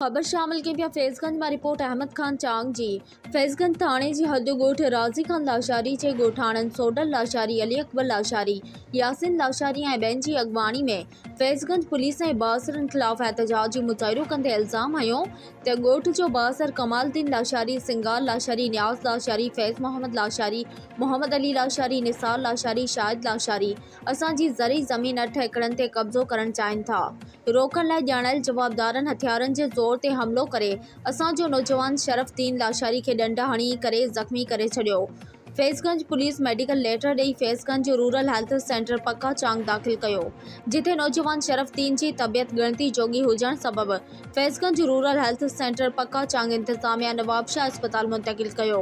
خبر شامل ڪئي پيا فيض گنج مان رپورٽ احمد خان چانگ جي فيض گنج ٿاڻي جي حد ڳوٺ رازي خان لاشاري جي ڳوٺاڻن سوڍل لاشاري علي اڪبر لاشاري ياسين لاشاري ۽ ٻين جي اڳواڻي ۾ فيض گنج پوليس ۽ بااثرن خلاف احتجاجي مظاهرو ڪندي الزام هنيو ته ڳوٺ جو بااثر ڪمال الدين لاشاري سنگار لاشاري نياز لاشاري فيض محمد لاشاري محمد علي لاشاري نثار لاشاري شاهد لاشاري اسان جي زرعي زمين اٺ ايڪڙن تي قبضو ڪرڻ چاهين ٿا، روڪڻ لاء ڄاڻايل جوابدارن هٿيارن جي زور تي حملو ڪري اسان جو نوجوان شرف الدين لاشاري کي ڏنڊ هڻي ڪري زخمي ڪري ڇڏيو، فيضگنج پوليس ميڊيڪل ليٽر ڏئي Faizganj rural health centre Pacca Chang داخل ڪيو، جتي نوجوان شرف الدين جي طبيعت ڳڻتي جوڳي هجڻ سبب Faizganj rural health centre Pacca Chang انتظاميا نوابشاهه اسپتال منتقل ڪيو.